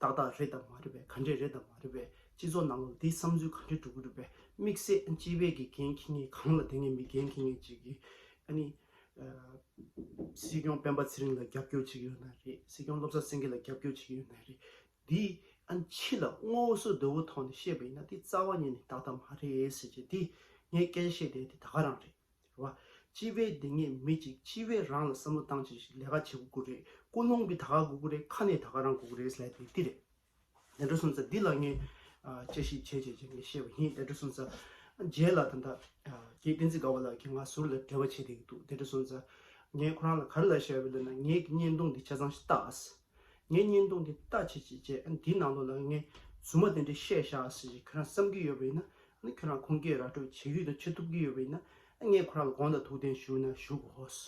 ཏག་ཏག་རེད་དམ་མ་རེད་པས་ག་འདྲས་རེད་དམ་མ་རེད་པས་སྤྱི་ཚོགས་ནང་ལོག་འདིས་བསམ་ཚུལ་ག་འདྲས་འགྲོ་གི་འགྲོ་པས་དམིགས་བསལ་སྤྱི་བེད་ཀྱི་འགན་འཁྱི་ངན་གང་ལ་དེ་ངས་མི་འགན་འཁྱི་ངན་བྱེད་གི་ཨ་ནི། སྲིད་སྐྱོང་སྤེན་པ་ཚེ་རིང་ལ་རྒྱབ་སྐྱོར་བྱེད་ཀྱི་ཡོད་ན་རེད་སྲིད་སྐྱོང་བློ་བཟང་སེང་གེ་ལ་རྒྱབ་སྐྱོར་བྱེད་ཀྱི་ཡོད་ན་རེད་འདི་ཨ་ནི་ཕྱི་ལ་ངོ་སོ་དོད་བོ་ཐོག་ནས་བཤད་པ་ཡིན་ན་དེ་རྩ་བ་ཉིད་ནས་དག་ད་མ་རེད་ཟེར་རྗེས་དེ་ངས་སྐད་ཆ་བཤད་བསྡད་དེ་ད་ག་རང་རེད་བ། སྤྱི་བའི་སྡེ་ལྔས་མི་གཅིག་སྤྱི་བའི་རང་ལ་བསམ་བློ་བཏང་བྱས་ཤིང་ལས་ཀ་བྱེད་དགོས་ཀུ་རེ་ཀུན་སློང་གིས་ད་ག་དགོས་ཀུ་རེ་ཁ་ནས་ད་ག་རང་དགོས་ཀུ་རེ་ཟེར་དེ་འདི་རེད། དལ་འགྲོ་སོང་ཚ་འདི་ལ་ངས་དཔྱད་ཞིབ་བྱས་བྱས་བྱས་ངས་ཤེས་པ་ཡིན་དལ་འགྲོ་སོང་ཚ་རྗེས་ལ་ད་ལྟ་རྒྱའི་བསྟན་འཛིན་དགའ་བ་ལགས་ཀྱིས་ང་ཟུར་ལ་འབྲེལ་བ་བྱས་བསྡད་ཀྱི་འདུག་དལ་འགྲོ་སོང་ཚ་ངས་ཁོ་རང་ལ་ག་རེ་ལ་བཤད་པ་ལ་ན་ངེད་ཀྱི་བརྙན་ཐུང་འདི་ཆ་ཚང་ཞིག་བལྟ་ཨ་སི། ངའི་བརྙན་ཐུང་འདི་ལྟ་བྱེད་ཅེས་བྱས་ཨ་ནི་དེའི་ནང་དོན་ལ་ངས་རྫུན་མ་དེ་འདྲ་བཤད་བཞག་ཟེར་ཞེས་ཁྱོད་རང་བསམ་གྱི་ཡོད་པ་ཡིན་ན་ཨ་ནི་ཁྱོད་རང་ཁུངས་སྐྱེལ་ར་སྤྲོད་བྱེད་ཀྱི་དང་བྱེད་ཐུབ་ཀྱི་ཡོད་པ་ཡིན་ན་ཨ་ངས་ཁོ་རང་ལ་དགོངས་དག་ཐུགས་བདེན་ཞུ་ན་ཞུ་གོ་ཧོས།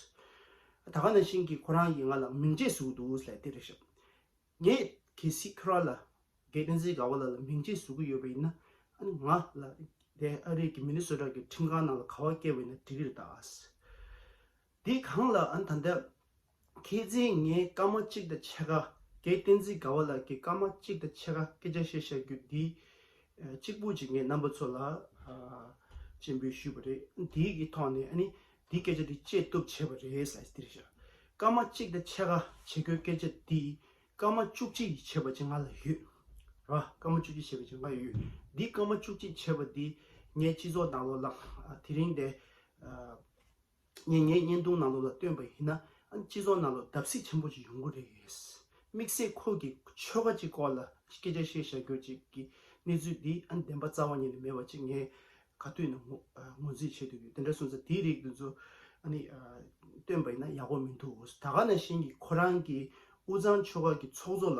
ད་ག་ན་ཤིན་གྱིས་ཁོ་རང་གིས་ང་ལ་མིང་རྗེས་ཟུག་འདུག་ལྷས་ཏེ་རེ་ཞབས། ངས་གལ་སྲིད་ཁྱོད་རང་ལ་རྒས་བསྟན་འཛིན་དགའ་བ་ལགས་ལ་མིང་རྗེས་ཟུག་གི་ཡོད་པ་ཡིན་ན་ཨ་ནི་ང་ལ་དེ་ཨ་རིག་གི་མི་ནི་སོ་དྲག་གི་ཁྲིམས་ཁང་ནང་ལ་ག་བ་སྐྱེལ་བ་ཡིན་ན་འགྲིག་གི་རེད་ད་ཨཱས། འདི་གང་ལགས་ཨ་ནི་ད་ལྟ་མཁས་བཙུན་ངས་སྐར་མ་གཅིག་དང་ཕྱེད་ཀ་རྒྱའི་བསྟན་འཛིན་དགའ་བ་ལགས་ཀྱི་སྐར་མ་གཅིག་དང་ཕྱེད་ཀ་སྐད་ཆ་བཤད་བཤད་རྒྱུ་འདི་གཅིག་པུ་གཅིག་ངས་རྣམ་པ་ཚོ་ལ་སྤྱན་འབུལ་ཞུས་པ་རེད་དེའི་གི་ཐོག་ནས་འདི་སྐད་ཆ་འདི་བཅད་བཏུབ་བྱས་པ་རེད་ས་ཡིས་འདིར་བཞག་སྐར་མ་གཅིག་དང་ཕྱེད་ཀ་བྱེད་རྒྱུའི་སྐད་ཆ་འདི་སྐར་མ་བཅུ་གཅིག་ཡིས་བྱས་པ་ཅི་ང་ལ་ཡོད་ར་སྐར་མ་བཅུ་གཅིག་བྱས་པ་ཅི་ང་ཡོད་འདི་སྐར་མ་བཅུ་གཅིག་བྱས་པ་འདི་ངས་སྤྱི་ཚོགས་དང་ལོ་ལགས་དེ་རིང་དེ། ངས་ངའི་བརྙན་ཐུང་ནང་ལོགས་ལ་བཏོན་པ་ཡིན་ན་སྤྱི་ཚོགས་ནང་ལོགས་བརྡབ་གསིག་ཆེན་པོ་ཅིག་ཡོང་གི་རེད། དམིགས་བསལ་ཁོང་གི་ཆོལ་ཁ་ཅིག་སྐོར་ལ་སྐད་ཆ་བཤད་བཞག་རྒྱུ་ཅིག་གི་གནས་ཚུལ་འདི་བདེན་པ་རྩ་བ་ཉིད་ནས་མེད་པ་ཅིག་ངས་ག་དུས་ནས་ངོས་འཛིན་བྱེད་འདོད་ཡོད་དེ་འདྲ་སོང་ཚེ་དེའི་རིགས་འདི་ཚོ་བཏོན་པ་ཡིན་ན་ཡག་པོ་མི་འདུག་ད་ག་ནང་བཞིན་གྱི་ཁོ་རང་གི་དབུས་གཙང་ཆོལ་ཁ་གི་ཚོགས་གཙོ་ལ་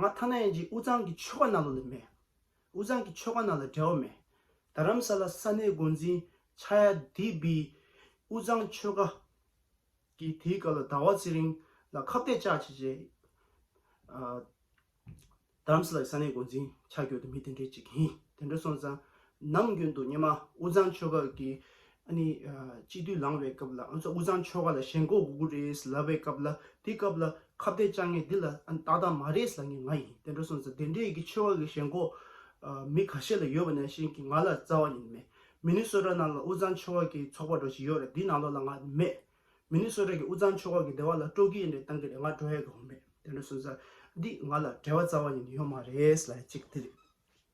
ང་ཐ་ན་ཡན་གྱི་དབུས་གཙང་གི་ཆོལ་ཁ་ནང་ལོགས་ལས་མེད། དབུས་གཙང་གི་ཆོལ་ཁ་ནང་ལ་འབྲེལ་བ་མེད། རྡ་རམ་ས་ལ་ས་གནས་འགོ་འཛིན་ཆ་ཡ་དི་བི་དབུས་གཙང་ཆོལ་ཁ་གིས་དེའི་སྐབས་ལ་ཟླ་བ་ཚེ་རིང་ལ་ཁ་བརྡས་བཅག་བྱས་རྗེས། རྡ་རམ་ས་ལ་ཡི་ས་གནས་འགོ་འཛིན་ཆ་གྱོད་དུ་མི་དེ་འདྲའི་གཅིག་ཡིན། དེ་འདྲ་སོང་ཙང་ནམ་རྒྱུན་དུ་སྙེ་མ་དབུས་གཙང་ཆོལ་ཁ་གི་སྤྱི་འཐུས་ལངས་པའི་སྐབས་ལ་དབུས་གཙང་ཆོལ་ཁ་ལ་ཞེན་ཁོག་དགོས་ཀྱི་རེད་ལབ་པའི་སྐབས་ལ་དེ་སྐབས་ལ་ཁ་བརྡའི་དཔྱ་ངན་འདི་ལ་ཏག་ཏག་མ་རེད་ཟེར་ངེས་ང་ཡིན་དེ་འདྲ་སོང་ཟེར་དེ་འདྲའི་ཡི་གེ་ཆོལ་ཁ་གི་ཞེན་ཁོག་མི་ཁ་ཤས་ལ་ཡོད་པ་ནས་བཞིན་གྱི་ང་ལ་རྩ་བ་ཉིད་མེད་མི་ནི་སོད་ཁྲ་ནང་ལ་དབུས་གཙང་ཆོལ་ཁ་གི་ཚོགས་པ་འགྲོ་བཞིན་ཡོད་རེད་འདི་ནང་ལོག་ལ་ང་མེད་མི་ནི་སོད་ཁྲ་གི་དབུས་གཙང་ཆོལ་ཁ་གི་སྡེ་བ་ལ་སྤྲོ་སྐྱིད་ཡིན་རེད་བཏང་གི་རེད་ང་འགྲོ་ཡས་དགོས་མེད་དེ་འདྲ་སོང་ཟེར་འདི་ང་ལ་བྲེལ་བ་རྩ་བ་ཉིད་ཡོད་མ་རེད་ལ་གཅིག་དེ་རེད།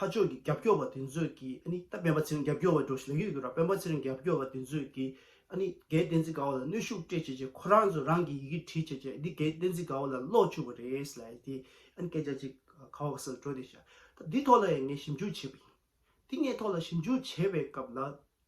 ཕ་ཅོག་གི་རྒྱབ་སྐྱོར་བ་དེ་ཚོས་ཀྱིས་ཨ་ནི་ད་པན་པ་ཚེ་རིང་རྒྱབ་སྐྱོར་བ་འགྲོ་ཞིག་ལ་ཡོད་འདུག་ར་པན་པ་ཚེ་རིང་རྒྱབ་སྐྱོར་བ་དེ་ཚོས་ཀྱིས་ཨ་ནི་རྒན་བསྟན་འཛིན་དགའ་བོ་ལ་གནོད་ཤུགས་སྤྲད་བྱས་རྗེས་ཁོ་རང་ཚོ་རང་གིས་ཡི་གེ་བྲིས་བྱས་རྗེས་འདི་རྒན་བསྟན་འཛིན་དགའ་བོ་ལ་ཀློག་བཅུག་པ་རེད་ཟེར་ལ་ཡི་དེས་ཨ་ནི་སྐད་ཆ་ཅིག་ག་བ་ག་ཟེར་ལ་འགྲོ་བསྡད་བྱས། ད་འདི་ཐོག་ལ་ཡང་ངས་ཞིབ་འཇུག་བྱས་པ་ཡིན། འདི་ངས་ཐོག་ལ་ཞིབ་འཇུག་བྱས་པའི་སྐབས་ལ་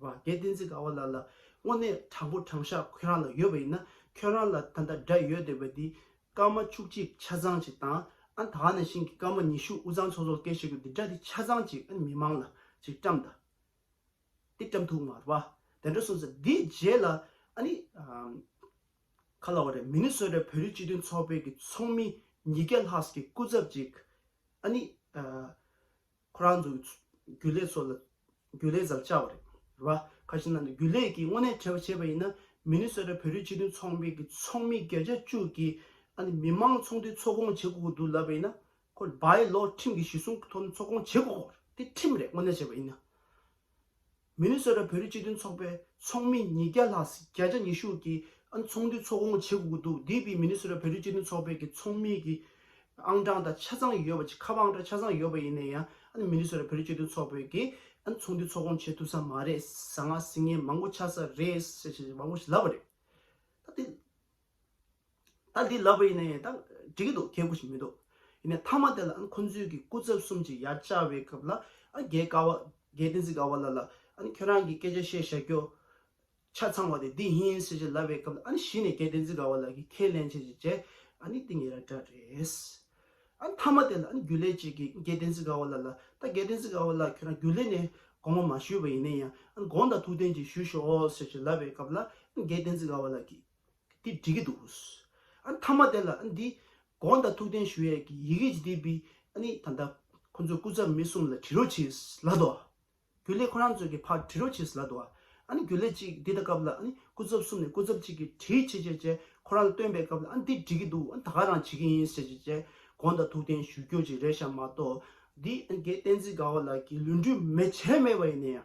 བ་དེ་བསྟན་འཛིན་དགའ་བ་ལགས་ལ་དངོས་གནས་དྲང་པོ་དྲང་བཞག་ཁོད་རང་ལ་ཡོད་པ་ཡིན་ན་ཁྱོད་རང་ལ་ད་ལྟ་འདྲ་ཡོད་འདོད་པ་འདི་སྐར་མ་བཅུ་གཅིག་ཆ་ཚང་ཅིག་དང་ཨ་ད་ནས་ཤིང་གི་སྐར་མ་ཉི་ཤུ་དབུ་གཙང་ཚོགས་གཙོར་སྐད་ཤེས་དགོས་འདི་འདྲ་འདི་ཆ་ཚང་ཅིག་ཨ་མི་མང་ལ་ཅིག་བཀྲམ་ད་དེ་བཀྲམ་ཐུག་མར་བ་དེ་འདྲ་གསུངས་ཟེར་དེའི་རྗེས་ལ་ཨ་ནི་ག་ལ་བ་རེད་མི་ནི་བསོད་རེད་བོད་རིགས་སྤྱི་མཐུན་ཚོགས་པའི་གི་ཚོགས་མི་ཉིས་བརྒྱ་ལྷག་གི་སྐུ་ཚབ་ཅིག་ཨ་ནི་ཁོ་རང་ཚོའི་རྒྱུ་ལས་སོགས་ལ་རྒྱུ་ལས་ཟབ་ཆགས་པ་རེད། ཁ་ཤས་ནང་ནས་རྒྱུ་ལས་ཀྱིས་དངོས་གནས་བྲེལ་བ་བྱས་པ་ཡིན་ན་མི་ནི་སོ་རའི་བོད་རིགས་སྤྱི་མཐུན་ཚོགས་པའི་གི་ཚོགས་མི་བརྒྱ་ཆ་བཅུ་གིས་ཨ་ནི་མི་དམངས་ཚོགས་འདུའི་ཚོགས་སྐོང་བྱེད་དགོས་ཀྱི་འདུག་ལབ་པ་ཡིན་ན་ཁོ་ལ་བའི་ལོ་ཁྲིམས་ཀྱི་གཞི་སྲུང་གི་ཐོག་ནས་ཚོགས་སྐོང་བྱེད་དགོས་ཀྱི་རེད་དེ་ཁྲིམས་རེད་དངོས་གནས་བྱས་པ་ཡིན་ན། མི་ནི་སོ་ཏྲ་བོད་རིགས་སྤྱི་མཐུན་ཚོགས་པའི་ཚོགས་མི་ཉིས་བརྒྱ་ལྷག་བརྒྱ་ཆ་ཉི་ཤུ་གིས་ཚོགས་འདུའི་ཚོགས་དགོངས་འབྱེད་དགོས་འདུག་འདི་བས་མི་ནི་སོ་ཏྲ་བོད་རིགས་སྤྱི་མཐུན་ཚོགས་པའི་གི་ཚོགས་མི་གི་ཨང་གྲངས་དང་ཆ་ཚང་ཡོད་པ་ཁ་པ་ཨང་གྲངས་ཆ་ཚང་ཡོད་པ་ཡིན་ན་ཡང་མི་ནི་སོ་ཏྲ་བོད་རིགས་སྤྱི་མཐུན་ཚོགས་པའི་གི་ཚོགས་འདུའི་ཚོགས་དགོངས་འབྱེད་ཐུབ་ས་མ་རེད་ཟ་ང་ཟི་ངན་མང་པོ་ཆགས་ས་རེད་ཞེས་བ་པོ་ཞིག་ལབ་པ་རེད་ད་དེ། ད་འདི་ལབ་པ་ཡིན་ན་ཡང་ད་འགྲིག་གི་འདུག་ཁྱད་པོ་ཞིག་མི་འདུག་ཡིན་ནའི་མཐའ་མ་དེ་ལ་ཨ་ནི་ཁོ་ཚོའི་གི་སྐུ་ཚབ་གསུམ་གྱི་ཡ་བཅའ་བའི་སྐབས་ལ་ཨ་ནི་རྒྱའི་དཀའ་བ་རྒྱའི་བསྟན་སྲིད་དཀའ་བ་ལ་ལ་ཨ་ནི་ཁྱོད་རང་གི་སྐད་ཆ་བཤད་བཞག་རྒྱུ་ཆ་ཚང་བ་དེ་འདི་ཡིན་ཟེར་བཞིན་ལབ་པའི་སྐབས་ལ་ཨ་ནི་གཞི་ནས་རྒྱའི་བསྟན་སྲིད་དཀའ་བ་ལ་གི་ཁས་ལེན་བྱེད་བྱེད་བྱེད་ཨ་ནི་འདི་ངེས་ར་འདྲ་རེད། ཨ་ནི་མཐའ་མ་དེ་ལ་ཨ་ནི་རྒྱུ་ལས་ཅིག་གི་རྒྱའི་བསྟན་སྲིད་དཀའ་བ་ལ་ལ་ད་རྒྱའི་བསྟན་སྲིད་དཀའ་བ་ལ་ཁྱོད་རང་རྒྱུ་ལས་ནས་དགོངས་པ་མ་ཞུས་པ་ཡིན་ན་ཡང་ཨ་ནི་དགོངས་དག་ཐུགས་བདེན་གྱི་ཞུ་ཞོག་ཟེར་བཞིན་ལབ་པའི་སྐབས་ལ་ཨ་ནི་རྒྱའི་བསྟན་སྲིད་དཀའ་བ་ལ་གི། འདི་འགྲིག་གི་འདུག་ཨ་ནི་མཐའ་མ་དེ་ལ་ཨ་ནི་འདི་དགོངས་དག་ཐུགས་རྟེན་ཞུ་ཡས་ཀྱི་ཡི་གེ་ཇི་དེ་བི་ཨ་ནི་ད་ལྟ་ཁོ་ཚོས་སྐུ་ཚབ་མི་གསུམ་ལ་དྲི་རོ་བྱས་ལ་དོ་ཨ་རྒྱུ་ལས་ཁོ་རང་ཚོས་ཀྱི་ཕར་དྲི་རོ་བྱས་ལ་དོ་ཨ་ཨ་ནི་རྒྱུ་ལས་གཅིག་འདི་ད་སྐབས་ལ་ཨ་ནི་སྐུ་ཚབ་གསུམ་ནས་སྐུ་ཚབ་གཅིག་གིས་དྲིའི་ཆེད་བཅས་བཅས་ཁོ་རང་ལ་བཏོན་པའི་སྐབས་ལ་ཨ་ནི་འདི་འགྲིག་གི་འདུག་ཨ་ནི་ད་ག་རང་བྱེད་ཀྱི་ཡིན་བྱས་བྱས་བྱས་དགོངས་དག་ཐུགས་རྟེན་ཞུ་རྒྱུ་ཅིག་རེད་ཤག་མ་གཏོགས་འདི་ཨ་ནི་དགེ་བསྟན་འཛིན་དགའ་བ་ལགས་ཀྱིས་ལུས་འབྲུ་མེ་བྱས་མེད་པ་ཡིན་ན་ཡང།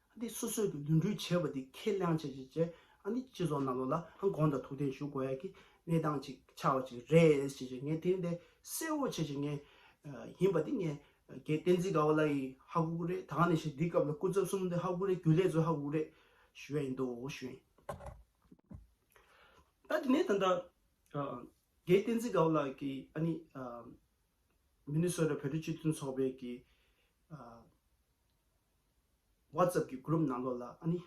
འདི་སོ་སོས་འདུ་འགྲིག་བྱས་པ་འདི་ཁས་ལེན་བྱེད་བྱེད་བྱེད་འདི་སྤྱི་ཚོགས་རྣམས་ལ་དགོངས་དག་ཐུགས་བདེན་ཞུ་དགོས་ཡ་གི་གནས་སྟངས་ཅིག་ཆགས་པ་ཅིག་རེད་བྱེད་བྱེད་ངས་དེ་འདི་གསལ་བོ་བྱེད་བྱེད་ངས་ཡིན་པ་འདི་ངས་དགེ་བསྟན་འཛིན་དགའ་བ་ལ་ཡི་ཧ་གུ་གུ་རེད་ད་ག་ནས་ཤེས་འདི་སྐབས་ལ་སྐུ་ཚབ་གསུམ་འདི་ཧ་གུ་གུ་རེད་རྒྱུ་ལས་ཚོ་ཧ་གུ་གུ་རེད་ཞུ་ཡ་ཡིན་འདུག་ཞུ་ཡིན། ད་དེ་ནས་ད་དགེ་བསྟན་འཛིན་དགའ་བ་ལགས་ཀྱི་ཨ་ནི། མི་ནི་སོ་ར་བོད་རིགས་སྤྱི་མཐུན་ཚོགས་པའི་གི། WhatsApp གི Group ནང་ལོགས་ལ་ཨ་ནི།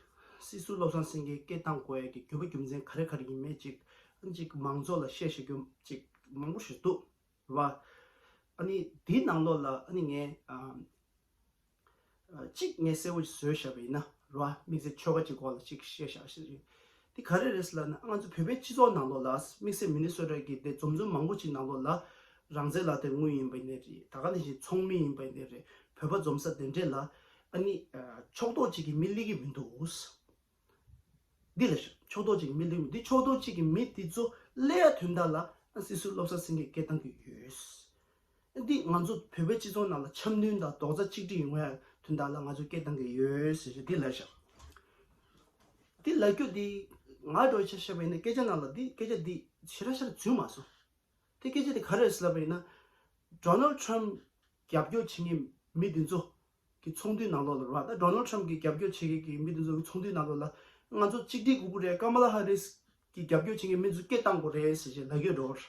སྲིད་ཟུར་བློ་བཟང་སེང་གེའི་སྐད་གདངས་གོ་ཡ་གི་རྒྱུ་བ་རྒྱུ་མཚན་ག་རེ་ག་རེ་ཡིན་མེད་ཅིག་ཨ་ཅིག་མང་ཚོགས་ལ་བཤད་ཤེས་རྒྱུ་ཅིག་མང་པོ་ཞིག་འདུག་བ། ཨ་ནི་དེའི་ནང་ལོགས་ལ་ཨ་ནི་ངས་ཅིག་ངས་གསལ་བོ་ཞིག་བཟོས་བཞག་པ་ཡིན་ན་ར་བ་དམིགས་བསལ་ཆོལ་ཁ་ཅིག་སྐོར་ལ་ཅིག་བཤད་བཞག་ཞེས་རེད། དེ་ག་རེ་རེད་ཟེར་ན་ང་ཚོ་བོད་པའི་སྤྱི་ཚོགས་ནང་ལོགས་ལ་དམིགས་བསལ་མི་ནི་གསོད་ར་གི་དེ་འཛོམས་འཛོམས་མང་པོ་ཅིག་ནང་ལོགས་ལ་རང་བཙན་ལ་དེ་དངུལ་ཡིན་པ་ནས་རེད་ད་ག་ནས་བཞིན་ཚོང་མི་ཡིན་པ་ནས་རེད་བོད་པ་འཛོམས་ས་དེ་འདྲས་ལ་ཨ་ནི་ཕྱོགས་གཏོགས་གཅིག་གི་མི་སླེ་གི་མི་འདུག་འདི་ལ་ཤོག་ཕྱོགས་གཏོགས་གཅིག་གི་མི་སླེ་གི་མི་འདུག་ཕྱོགས་གཏོགས་གཅིག་གི་མི་དེ་ཚོ་སླེ་ཡ་དོན་དག་ལ་ཨ་སིད་སུད་སློབ་ས་ཟིན་གི་སྐད་བཏང་གི་ཡོད། འདིས་ང་ཚོ་བོད་པའི་སྤྱི་ཚོགས་ནང་ལ་འཆམ་མཐུན་དང་རྡོག་རྩ་གཅིག་སྒྲིལ་ཡོང་བའི་དོན་དག་ལ་ང་ཚོས་སྐད་གཏང་གི་ཡོད། ཟེར་ཞིང་དེ་ལས་ཤག་དེ་ལས་ཁྱོད་དེ་ང་འགྲོ་ཆ་ཤེས་པ་ཡིན་ན་སྐད་ཆ་ནང་ལ་དེ་སྐད་ཆ་དེ་ཞི་ར་ཤར་ར་བྱོས་མ་སོང། དེ་སྐད་ཆ་དེ་ག་རེ་རེད་ལབ་པ་ཡིན་ན། Donald Trump རྒྱབ་སྐྱོར་བྱེད་ངེས་མི་དེ་ཚོ་གི་ཚོགས་འདུའི་ནང་ལོག་ལ་རོགས་ད Donald Trump གི་རྒྱབ་སྐྱོར་བྱེད་མཁན་གི་མི་དེ་ཚོ་གི་ཚོགས་འདུའི་ནང་ལོག་ལ་ང་ཚོ་གཅིག་སྒྲིལ་དགོས་ཀྱི་རེད Kamala Harris གི་རྒྱབ་སྐྱོར་བྱེད་མཁན་མི་དེ་ཚོ་སྐད་གཏང་དགོས་རེད་ཟེར་ཞིང་ལག་ཡོད་འགྲོ།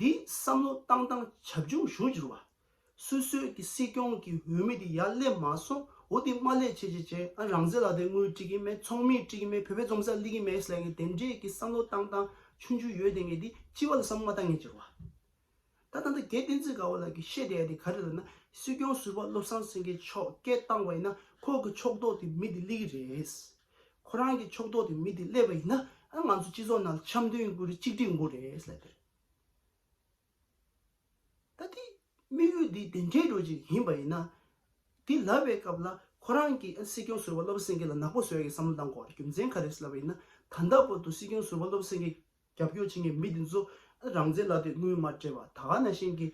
འདིས་བསམ་བློ་བཏང་སྟངས་བྱབ་ཆུང་ཞུ་འགྱུར་བ། སུད་སུད་ཀྱི་སྲིད་སྐྱོང་གི་འོས་མི་དེ་ཡར་སླེབས་མ་སོང་འོ་དེ་དམའ་ལས་ཆེ་ཆེ་བྱས་ཨ་རང་ཟེར་ལ་དེ་དངུལ་སྤྲི་གི་མེད་ཚོང་མིས་སྤྲི་གི་མེད་བོད་པའི་འཛོམས་སར་སླེ་གི་མེད་ཟེར་གི་དེ་འདྲས་ཀྱི་བསམ་བློ་བཏང་སྟངས་ཆུང་ཆུང་ཡོད་དེ་ངས་དེ་ལྕི་བ་ལ་བསམ་བློ་མ་བཏང་ངེས་འགྱུར་བ། ད་ད་ད་གལ་བསྟན་འཛིན་དགའ་བོ་ལགས་ཀྱིས་བཤད་བསྡད་ཡ་དེ་ག་རེ་རེད་ན་སྲིད་སྐྱོང་ཟུར་པ་བློ་བཟང་སེང་གེ་མཆོག་སྐད་བཏང་བ་ཡིན་ན་ཁོག་གི་ཕྱོགས་གཏོགས་དེ་མི་དེ་སླེ་གི་རེད། ཁོ་རང་གི་ཕྱོགས་གཏོགས་ཀྱི་མི་དེ་སླེབས་པ་ཡིན་ན་ང་ཚོ་སྤྱི་ཚོགས་ནང་འཆམ་མཐུན་ཡོང་རྒྱུ་རེད་གཅིག་སྒྲིལ་ཡོང་རྒྱུ་རེད་ཟེར་ལབ་པ་རེད། ད་དེ་དམིགས་ཡུལ་དེ་དེ་འདྲའི་འགྲོ་ཅིག་ཡིན་པ་ཡིན་ན། དེ་ལབ་པའི་སྐབས་ལ་ཁོ་རང་གི་སྲིད་སྐྱོང་ཟུར་བ་བློ་བཟང་སེང་གེ་ལ་ནག་པོ་བཟོ་ཡག་གི་བསམ་བློ་བཏང་དགོས་པ་རེད་རྒྱུ་མཚན་ག་རེད་ཟེར་ལབ་པ་ཡིན་ན་ད་ལྟ་བར་དུ་སྲིད་སྐྱོང་ཟུར་བ་བློ་བཟང་སེང་གེ་རྒྱབ་སྐྱོར་བྱེད་མཁན་མི་དེ་ཚོ་རང་བཙན་ལ་དེ་དངུལ་མ་སྤྲད་པ་ད་ག་ན་ཤེས་ཀི།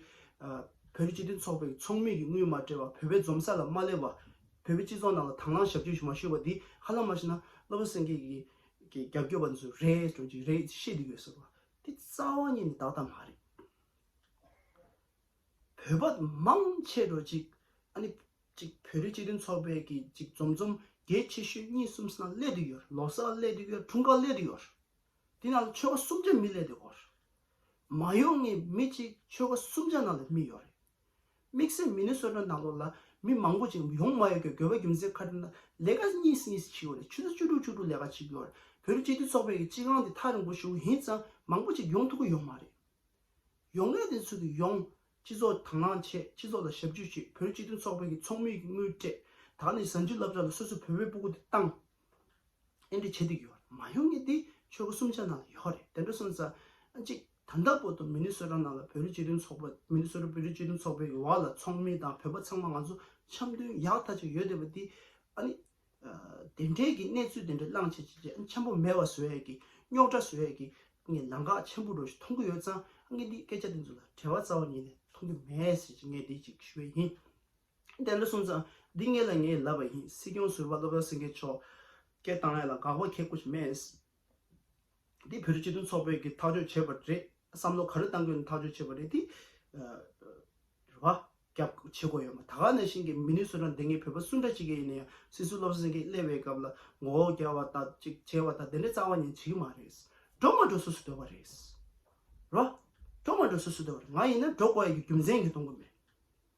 བོད་སྤྱི་མཐུན་ཚོགས་པའི་ཚོགས་མི་གིས་དངུལ་མ་སྤྲད་པ་བོད་པའི་འཛོམས་ས་ལ་མ་སླེབས་པ། བོད་པའི་སྤྱི་ཚོགས་ནང་ལ་དྭང་བླང་ཞབས་ཕྱི་ཞུ་མ་ཞུ་བ་དེ་ཧ་ལམ་མ་ཤི་ན་སློབ་ར་སེང་གེ་གི་རྒྱབ་སྐྱོར་བ་འདི་ཚོ་རེད་སྤྲོད་ཀྱི་རེད་ཅེས་བཤད་དུ་ཡོད་ཟེར་བ་དེ་རྩ་བ་ཉིད་ནས་དག་ད་མ་རེད། བོད་པ་མང་ཆེ་རུ་ཅིག་ཨ་ནི་ཅིག་བོད་རིགས་སྤྱི་མཐུན་ཚོགས་པའི་གི་ཅིག་འཛོམས་འཛོམས་རྒྱལ་ཆེ་ཤོས་གཉིས་གསུམ་ས་ན་སླེད་དུ་ཡོད་ལོ་སར་སླེད་དུ་ཡོད་འཁྲུངས་སྐར་སླེད་དུ་ཡོད། དེ་ནང་ལ་ཆོལ་ཁ་སུམ་ཆ་མི་ལས་དེ་འོར། མ་ཡོང་ངས་མི་གཅིག་ཆོལ་ཁ་སུམ་ཆ་ནང་ལ་མི་ཡོད་རེད། དམིགས་བསལ་མི་ནི་སོ་སོའི་ནང་ལོག་ལ་མི་མང་པོ་ཅིག་ཡོང་མ་ཡོང་གི་དགོས་པ་རྒྱུ་མཚན་ཁ་དྲི་ན་ལས་ཀ་གཉིས་སུ་གཉིས་སུ་བྱེད་ཡོད་རེད་ཆུ་ཚོད་བཅུ་དྲུག་བཅུ་དྲུག་ལས་ཀ་བྱེད་ཀྱི་ཡོད་རེད་བོད་རིགས་སྤྱི་མཐུན་ཚོགས་པའི་གི་སྤྱི་ཁང་དེ་ཐག་རིང་པོ་ཞུགས་ཡིན་ཙང་མང་པོ་ཅིག་ཡོང་ཐུབ་ཀྱི་ཡོད་མ་རེད། ཡོང་ངེས་དེ་ཚོ་གི་ཡོང། སྤྱི་ཚོགས་དང་བླངས་བྱས་སྤྱི་ཚོགས་ལ་ཞབས་ཇུས་བྱས་བོད་རིགས་སྤྱི་མཐུན་ཚོགས་པའི་གི་ཚོགས་མི་གི་དངུལ་སྤྲད་ད་ནི་གཟའ་མཇུག་བསླབ་བྱ་ལ་སོ་སོའི་བོད་པའི་སྤུ་གུ་དེ་བཏང། ཨེ་འདྲི་བྱེད་དུ་ཡོད་རེད་མ་ཡོང་ངེས་དེ་ཆོལ་ཁ་གསུམ་ཆ་ནང་ལ་ཡོད་རེད་དེ་འདྲ་སོང་ཙང་གཅིག་ད་ལྟ་བོད་དུ་མི་ནི་སོ་ར་ནང་ལ་བོད་རིགས་སྤྱི་མཐུན་ཚོགས་པ་མི་ནི་སོ་ར་བོད་རིགས་སྤྱི་མཐུན་ཚོགས་པའི་བར་ལ་ཚོགས་མི་དང་བོད་པ་ཚང་མ་ང་ཚོ་འཆམ་མཐུན་ཡག་ཐག་ཅིག་ཡོད་བསྡད་པ་དེ་ཨ་ནི་དེ་འདྲའི་གི་གནས་ཚུལ་དེ་འདྲ་བླངས་བྱས་བྱས་བྱས་འཆམ་པོ་མེད་བ་བཟོས་ཡས་གི་རྙོག་དྲ་བཟོས་ཡས་གི་ངས་ལང་ཀག་ཆེན་པོ་འགྲོ་ཞིག་མཐོང་གི་ཡོད་ཙང་ངས་འདི་སྐད་ཆ་དེ་ཚོ་ལ་བྲེལ་བ་རྩ་བ་ཉིད་ནས་མཐོང་གི་མེད་ཟེར་གྱི་ངས་འདི་གཅིག་ཞུ་བས་ཡིན། དེ་འདྲ་གསུངས་ཙང་འདི་ངེད་ལ་ངས་ལབ་པ་ཡིན་སྲིད་སྐྱོང་ཟུར་བ་བློ་བཟང་སེང་གེ་མཆོག་སྐད་བཏང་ཡ་ལ་དགག་པ་ཁྱེད་སྐུ་སྨད་དེ་བོད་རིགས་སྤྱི་མཐུན་ཚོགས་པས་ཀྱི་ཐག་གཅོད་བྱས་པ་རེད་བསམ་བློ་ག་རེ་གཏང་དགོས་ནས་ཐག་གཅོད་བྱས་པ་རེད་དེ་རེད་བ། རྒྱབ་བྱེད་དགོས་ཡོད་མ་ད་ག་ནས་བཞིན་གྱི་མི་ནུས་སུ་རང་དེ་ངེད་བོད་པ་སུ་འདྲ་ཅིག་གི་ཡིན་ན་ཡང་སྲིད་ཟུར་བློ་བཟང་སེང་གེ་སླེབས་བའི་སྐབས་ལ་མགོ་བོ་འགྱར་བ་དང་ཅིག་བྱས་བ་དང་དེ་འདྲ་རྩ་བ་ཉིན་བྱེད་ཀྱི་མ་རེད། འགྲོ་མ་འགྲོ་སུ་སུ་འདོད་པ་རེད། རེད་བ། འགྲོ་མ་འགྲོ་སུ་སུ་འདོད་པ་རེད་ང་ཡིན་ན་འགྲོ་དགོས་ཡ་གྱི་རྒྱུ་མཚན་གྱིས་གཏོང་གི་མེད།